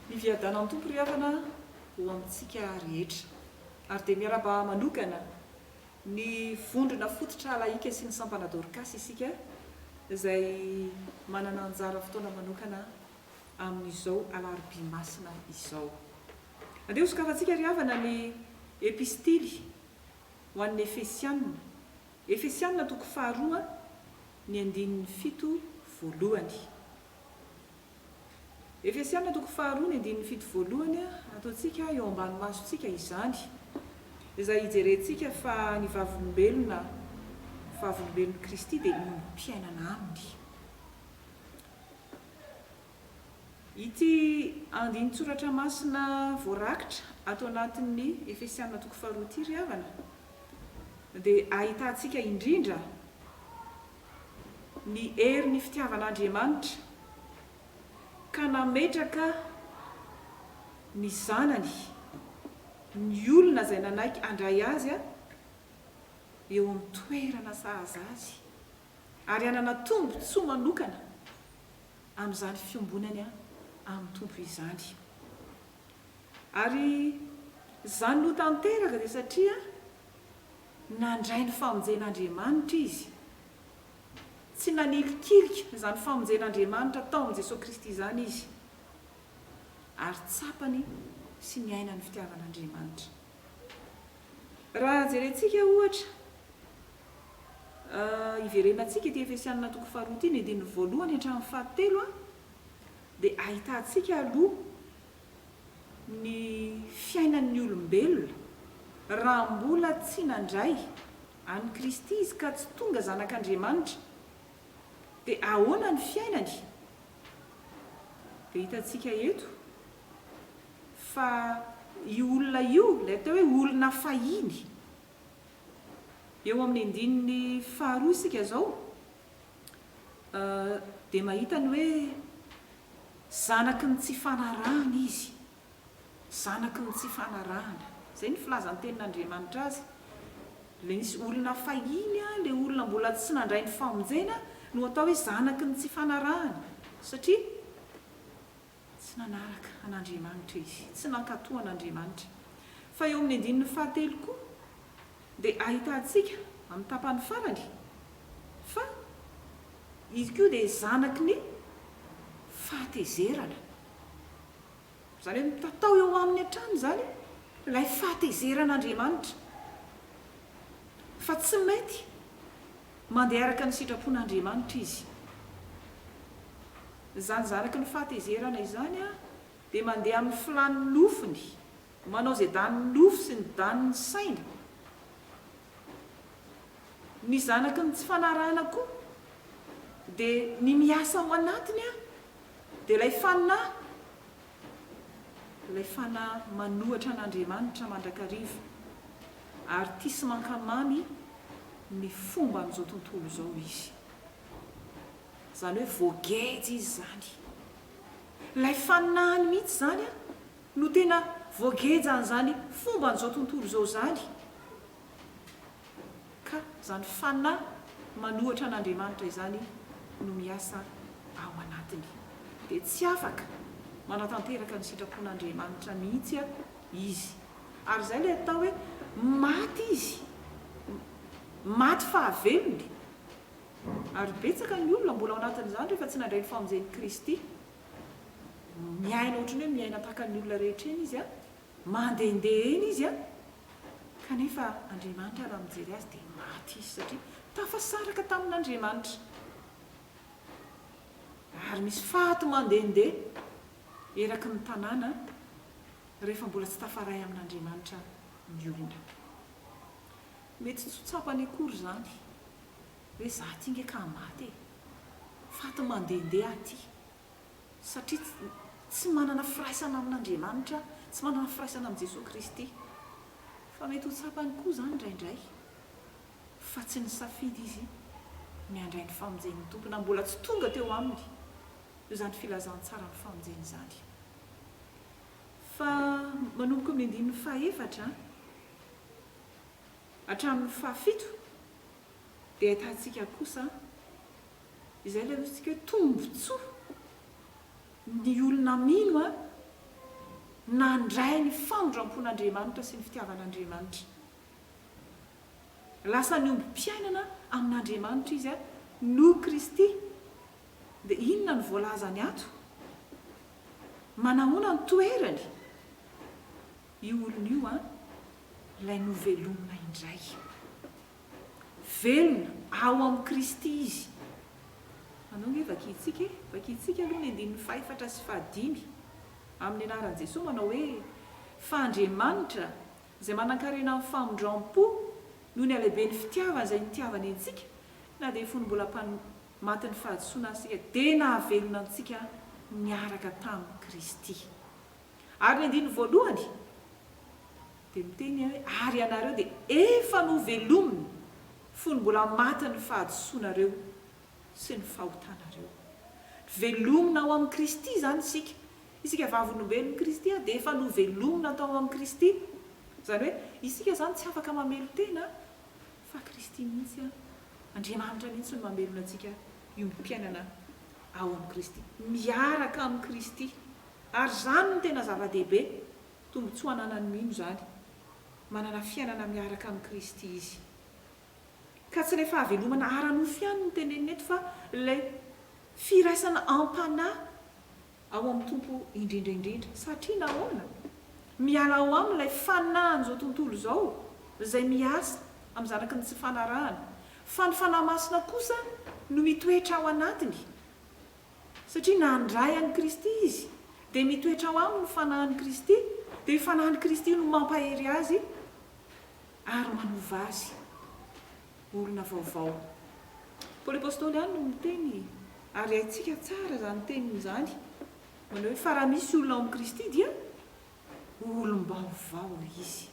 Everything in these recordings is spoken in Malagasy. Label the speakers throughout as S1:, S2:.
S1: Miviadana ny Tompo ry havana ho amintsika rehetra. Ary dia miarahaba manokana ny vondrona fototra lahika sy ny sampana Dorcas isika izay manana anjara fotoana manokana amin'izao alarobia masina izao. Andeha hosokafantsika ry havana ny Epistily ho an'ny Efesianina, Efesianina toko faharoa, ny andininy fito voalohany. Efesianina toko faharoa, ny andininy fito voalohany, ataontsika eo ambany masontsika izany, izay hijerentsika fa ny vavolombelona, vavolombelon'i Kristy dia ombim-piainana aminy. Ity andinin-tsoratra masina voarakitra ato anatin'ny Efesiana toko faharoa ity ry havana dia ahitantsika indrindra ny herin'ny fitiavan'Andriamanitra ka nametraka ny Zanany, ny olona izay nanaiky handray Azy eo amin'ny toerana sahaza Azy ary hanana tombon-tsoa manokana. amin'izany fiombonany amin'ny Tompo izany. Ary izany no tanteraka dia satria nandray ny famonjen'Andriamanitra izy. Tsy nanilikilika izany famonjen'Andriamanitra atao amin'i Jesoa Kristy izany izy, ary tsapany sy niainany fitiavan'Andriamanitra. Raha jerentsika ohatra, iverenantsika ity Efesianina toko faharoa ity, ny andininy voalohany hatramin'ny fahatelo, dia ahitantsika aloha ny fiainan'ny olombelona raha mbola tsy nandray an'i Kristy izy ka tsy tonga zanak'Andriamanitra, dia ahoana ny fiainany? Dia hitantsika eto fa io olona io, ilay atao hoe olona fahiny, eo amin'ny andininy faharoa isika izao, dia mahita ny hoe zanaky ny tsy fanarahana izy, zanaky ny tsy fanarahana. Izay ny filazan-tenin'Andriamanitra azy. Ilay misy olona fahiny, ilay olona mbola tsy nandray ny famonjena no atao hoe zanaky ny tsy fanarahana, satria. Tsy nanaraka an'Andriamanitra izy, tsy nankatò an'Andriamanitra. Fa eo amin'ny andininy fahatelo koa dia ahitantsika amin'ny tapany farany fa izy koa dia zanaky ny fahatezerana. Izany hoe mitatao eo aminy hatrany izany ilay fahatezeran'Andriamanitra fa tsy mety Mandeha araka ny sitrapon'Andriamanitra izy. Izany zanaky ny fahatezerana izany dia mandeha amin'ny filàn'ny nofony, manao izay danin'ny nofo sy ny danin'ny saina. Ny zanaky ny tsy fanarahana koa dia ny miasa ao anatiny dia ilay fanahy Ilay fanahy manohitra an'Andriamanitra mandrakariva ary tia sy mankamamy ny fomban'izao tontolo izao izy. Izany hoe voageja izy izany. Ilay fanahiny mihitsy izany no tena voagejan'izany fomban'izao tontolo izao izany ka izany fanahy manohatra an'Andriamanitra izany no miasa ao anatiny, dia tsy afaka manatanteraka ny sitrapon'Andriamanitra mihitsy izy. Ary izay ilay atao hoe maty izy, maty fahavelony. Ary betsaka ny olona mbola ao anatin'izany rehefa tsy nandray ny famonjen'i Kristy. Miaina ohatran'ny hoe miaina tahaka ny olona rehetra eny izy, Mandehandeha eny izy an! Kanefa Andriamanitra raha mijery azy dia maty izy satria tafasaraka tamin'Andriamanitra. Ary misy faty mandehandeha eraky ny tanàna rehefa mbola tsy tafaray amin'Andriamanitra ny olona. Mety tsy ho tsapany akory izany hoe za ty nge ka maty e! Faty mandehandeha aty. satria tsy manana firaisana amin'Andriamanitra, tsy manana firaisana amin'i Jesoa Kristy. Fa mety ho tsapany koa izany indraindray fa tsy nisafidy izy ny handray ny famonjen'ny Tompo na mbola tsy tonga teo aminy eo izany filazantsaran'ny famonjena izany. Fa manomboka eo amin'ny andininy fahefatra hatramin'ny fahafito dia ahitantsika kosa Izay ilay notsintsika hoe tombontsoa. Ny olona mino nandray ny famindram-pon'Andriamanitra sy ny fitiavan'Andriamanitra. Lasa niombom-piainana amin'Andriamanitra izy noho Kristy. Dia inona no voalazany ato? Manahoana no toerany io olona io, ilay novelomina indray? Velona ao amin'i Kristy izy. Anao ange vakintsika e! Vakintsika aloha ny andininy fahefatra sy fahadimy amin'ny anaran'i Jesoa manao hoe, Fa Andriamanitra, izay manankarena amin'ny famindram-po noho ny halehiben'ny fitiavany izay nitiavany antsika na dia fony mbola mpan matin'ny fahadisoana aza isika, dia nahavelona antsika niaraka tamin'i Kristy. Ary ny andininy voalohany dia miteny hoe, Ary ianareo dia efa novelomina, fony mbola matin'ny fahadisoanareo sy ny fahotanareo. Velomina ao amin'i Kristy izany isika. Isika vavolombelon'i Kristy dia efa novelomina tao amin'i Kristy. Izany hoe, isika izany tsy afaka mamelon-tena fa Kristy mihitsy, Andriamanitra mihitsy no mamelona antsika hiombi-piainana ao amin'i Kristy, miaraka amin'i Kristy. Ary izany no tena zava-dehibe, tombontsoa ananan'ny mino izany, manana fiainana miaraka amin'i Kristy izy. Ka tsy ilay fahavelomana ara-nofo ihany no tenenina eto fa ilay firaisana am-panahy ao amin'ny Tompo indrindra indrindra. Satria nahoana? Miala ao aminy ilay fanahin'izao tontolo izao izay miasa amin'ny zanaky ny tsy fanarahana, fa ny Fanahy Masina kosa no mitoetra ao anatiny. Satria na handray an'i Kristy izy, dia mitoetra ao aminy ny Fanahin'i Kristy, dia io Fanahin'i Kristy io no mampahery azy ary manova azy olona vaovao. Paoly Apostoly ihany no miteny, ary haintsika tsara izany teniny izany, manao hoe, Fa raha misy olona ao amin'i Kristy dia olom-baovao izy.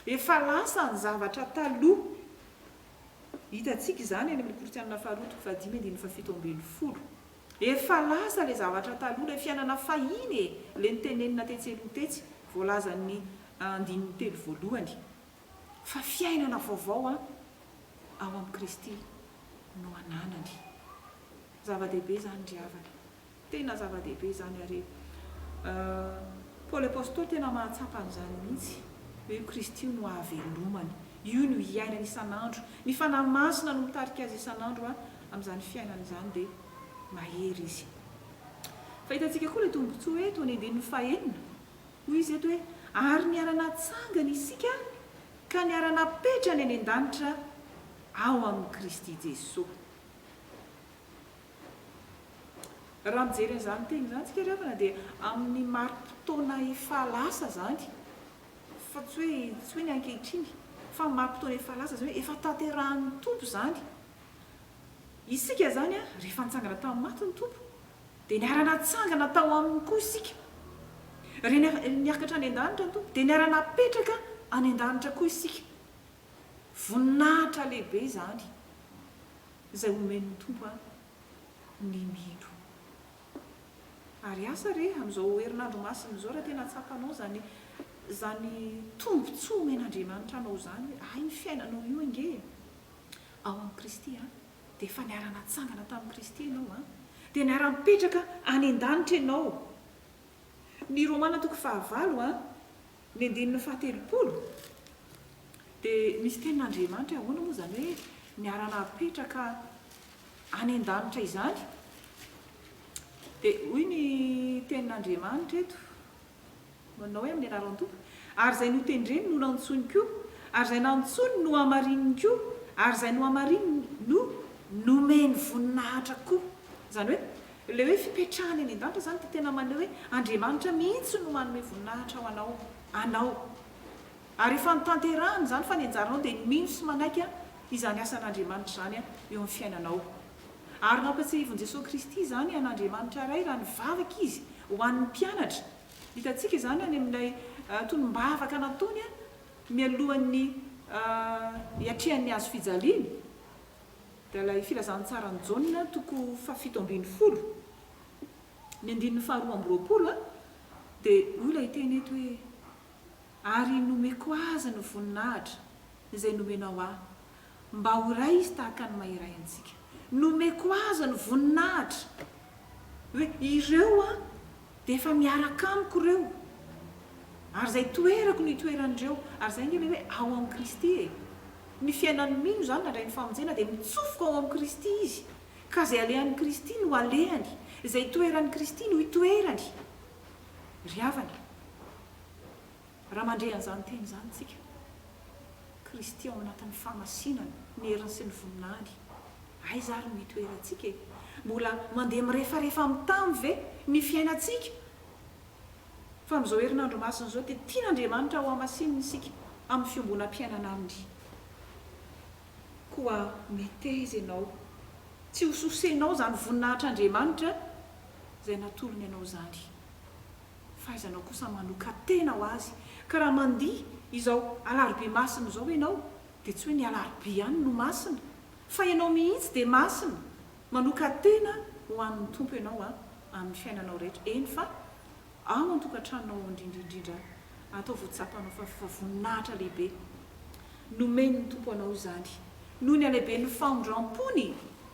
S1: Efa lasa ny zavatra taloha. Hitantsika izany any amin'ny Korintianina faharoa toko fahadimy andininy fahafito ambin'ny folo. Efa lasa ilay zavatra taloha, ilay fiainana fahiny e! ilay notenenina tetsy aloha tetsy, voalazan'ny andininy telo voalohany. Fa fiainana vaovao ao amin'i Kristy no ananany. Zava-dehibe izany ry havana. Tena zava-dehibe izany ary Paoly Apostoly tena mahatsapa an'izany mihitsy hoe io Kristy io no ahavelomany, io no iainany isan'andro, ny Fanahy Masina no mitarika azy isan'andro amin'izany fiainany izany dia mahery izy. Fa hitantsika koa ilay tombontsoa hoe tao amin'ny andininy fahenina, hoy izy eto hoe ary niara-natsangana isika ka niara-napetrany any an-danitra ao amin'i Kristy Jesoa. Raha mijery an'izany teny izany tsika ry havana dia amin'ny mari-potoana efa lasa izany fa tsy hoe tsy hoe ny ankehitriny fa ny mari-potoana efa lasa izany hoe efa tanterahin'ny Tompo izany. Isika izany rehefa nitsangana tamin'ny maty ny Tompo dia niara-natsangana tao Aminy koa isika. Rehefa niakatra any an-danitra ny Tompo dia niara-napetraka any an-danitra koa isika. Voninahitra lehibe izany. Izay homen'ny Tompo an ny mino. Ary asa re amin'izao herinandro masina izao raha tena tsapanao izany izany tombontsoa omen'Andriamanitra anao izany hoe hay ny fiainanao io ange e ao amin'i Kristy an dia efa niara-natsangana tamin'i Kristy ianao an dia niara-nipetraka any an-danitra ianao. Ny Romana toko fahavalo an. Ny andininy fahatelopolo dia misy tenin'Andriamanitra hoe ahoana moa izany hoe niara-napetraka any an-danitra izany? Dia hoy ny tenin'Andriamanitra eto, manao hoe amin'ny anaran'ny Tompo, ary izay notendreny no nantsoiny koa, ary izay nantsoiny no hamarininy koa, ary izay nohamarininy no nomeny voninahitra koa. Izany hoe Ilay hoe fipetrahany any an-danitra izany dia tena maneho hoe Andriamanitra mihitsy no manome voninahitra ho anao, anao. Ary efa notanterahiny izany fa ny anjaranao dia ny mino sy manaiky izany asan'Andriamanitra izany eo amin'ny fiainanao. Ary nampiatsiahivin'i Jesoa Kristy izany an'Andriamanitra Ray raha nivavaka Izy ho an'ny mpianatra. Hitantsika izany any amin'ilay tonom-bavaka nataony mialohan'ny hiatrehan'ny hazo fijaliana. Dia ilay Filazantsaran'i Jaona, toko fahafito ambin'ny folo, ny andininy faharoa amby roapolo, dia hoy ilay teny eto hoe, Ary nomeko azy ny voninahitra izay nomenao ahy, mba ho iray izy tahaka ny maha iray antsika. Nomeko azy ny voninahitra. Hoe ireo Dia efa miaraka amiko ireo, ary izay toerako no itoeran'ireo. Ary izay ange ilay hoe ao amin'i Kristy e! Ny fiainan'ny mino izany nandray ny famonjena dia mitsofoka ao amin'i Kristy izy, ka izay alehan'i Kristy no alehany, izay itoeran'i Kristy no itoerany. Ry havana, Raha mandre an'izany teny izany isika, Kristy ao anatin'ny fahamasinana, ny heriny sy ny voninahiny, aiza ary no hitoerantsika e? Mbola mandeha mirefarefa amin'ny tany ve ny fiainantsika? Fa amin'izao herinandro masina izao dia tian'Andriamanitra hohamasinina isika amin'ny fiombonam-piainana Aminy. Koa meteza ianao tsy hososenao izany voninahitr'Andriamanitra izay natolony anao izany. Fahaizanao kosa manokan-tena ho azy. Ka raha mandihy izao alarobia masina izao ianao dia tsy hoe ny alarobia ihany no masina fa ianao mihitsy dia masina. Manokan-tena ho an'ny Tompo ianao an, amin'ny fiainanao rehetra, eny fa ao an-tokantranonao ao indrindra indrindra ataovy ho tsapanao fa efa voninahitra lehibe nomen'ny Tompo anao izany noho ny halehiben'ny fahondram-pony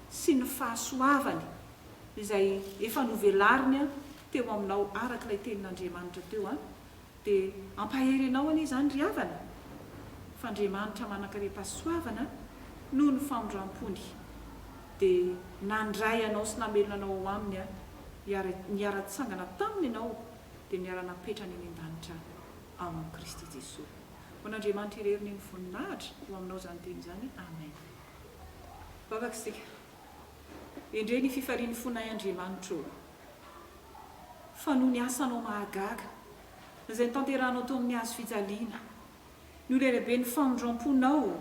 S1: sy ny fahasoavany. izay efa novelariny teo aminao araka ilay tenin'Andriamanitra teo an, dia hampahery anao anie izany ry havana, fa Andriamanitra manan-karem-pahasoavana noho ny famindram-pony dia nandray anao sy namelona anao ao aminy an, ary niara-nitsangana taminy ianao dia niara-napetrany eny an-danitra ao amin'i Kristy Jesoa. Ho an'Andriamanitra irery ny voninahitra ho aminao izany teny izany. Amen. Vavaka isika. Endrey ny fifalian'ny fonay Andriamanitra ô! Fa noho ny asanao mahagaga, izay notanterahanao teo amin'ny hazo fijaliana, ny ho lelaben'ny famindram-ponao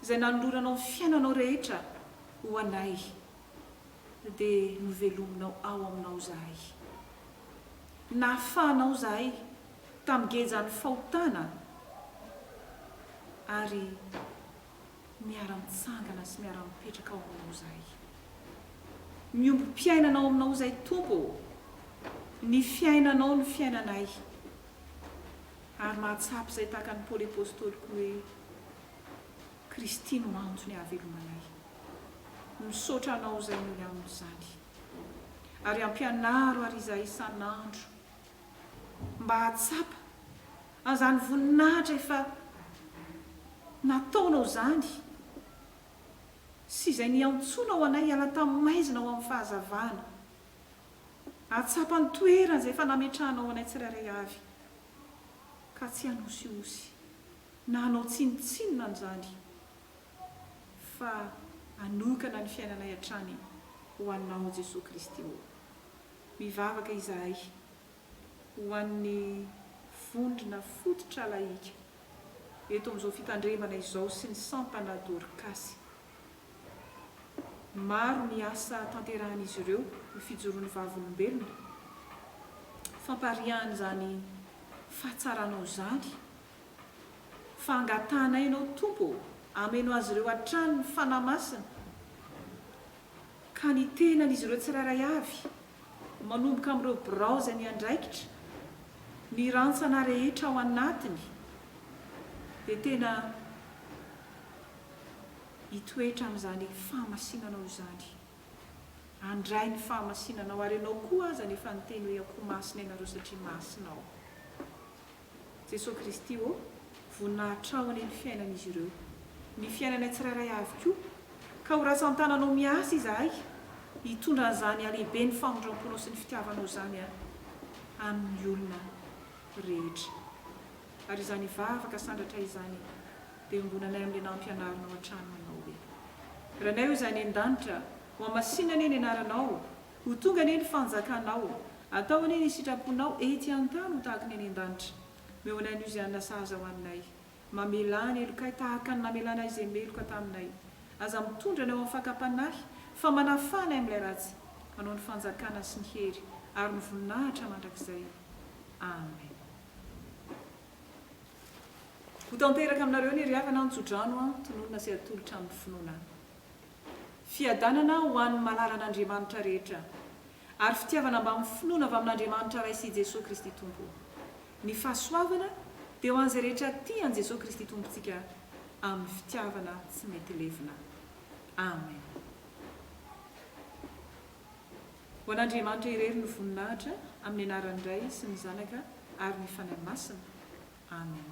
S1: izay nanoloranao ny fiainanao rehetra ho anay, dia novelominao ao aminao izahay. Nahafahanao izahay tamin'ny gejan'ny fahotana ary. Miara-mitsangana sy miara-mipetraka ao aminao izahay. Miombom-piainana ao aminao izahay Tompo ô! Ny fiainanao no fiainanay. Ary mahatsapa izay tahaka an'i Paoly Apostoly koa hoe, Kristy no antony ahavelomanay. Misaotra anao izay noho ny amin'izany. Ary ampianaro ary izahay isan'andro mba hahatsapa. Azany voninahitra efa nataonao izany sy izay niantsonao anay hiala tamin'ny maizina ho amin'ny fahazavana. Ahatsapa ny toerana izay efa nametrahanao anay tsirairay avy, ka tsy hanosihosy na hanao tsinontsinona an'izany, fa hanokana ny fiainanay hatrany ho Anao, Jesoa Kristy ô. Mivavaka izahay. ho an'ny vondrona fototra lahika eto amin'izao fitandremana izao sy ny sampana Dorkasy. Maro ny asa tanterahan'izy ireo ny fijoroan'ny vavolombelona, fampariahana izany fahatsaranao izany fa angatahanay ianao Tompo ô, ameno azy ireo hatrany ny Fanahy Masina ka ny tenan'izy ireo tsirairay avy Manomboka amin'ireo birao izay miandraikitra ny rantsana rehetra ao anatiny dia tena hitoetra amin'izany fahamasinanao izany. Handray ny fahamasinanao ary ianao koa aza no efa niteny hoe akoho masina ianareo satria masina aho. Jesoa Kristy ô, vonona hatraho anie ny fiainan'izy ireo, ny fiainanay tsirairay avy koa, ka ho ratsan-tananao miasa izahay hitondra an'izany halehiben'ny famindram-ponao sy ny fitiavanao izany an, amin'ny olona rehetra. Ary izany vavaka sandratra izany dia iombonanay amin'ilay nampianarinao hatrany manao hoe. Ranay o Zany any an-danitra, hohamasinina anie ny anaranao Ho tonga anie ny fanjakanao. Atao anie ny sitraponao ety an-tany ho tahaka ny any an-danitra. Omeo anay an'io izay hanina sahaza ho aninay. Mamelà ny helokay tahaka ny namelanay izay meloka taminay. Aza mitondra anay ho amin'ny fakam-panahy, fa manafaha anay amin'ilay ratsy. Anao ny fanjakana sy ny hery ary ny voninahitra mandrakizay. Amen. Ho tanteraka aminareo ny ry havana an-tso-drano an, tononina sy atolotra amin'ny finoana. Fiadanana ho an'ny malalan'Andriamanitra rehetra, ary fitiavana mba mifonona avy amin'Andriamanitra Ray sy i Jesoa Kristy Tompo. Ny fahasoavana dia ho an'izay rehetra tia an'i Jesoa Kristy Tompontsika amin'ny fitiavana tsy mety levona. Amen. Ho an'Andriamanitra irery ny voninahitra, amin'ny anaran'ny Ray sy ny Zanaka ary ny Fanahy Masina. Amen.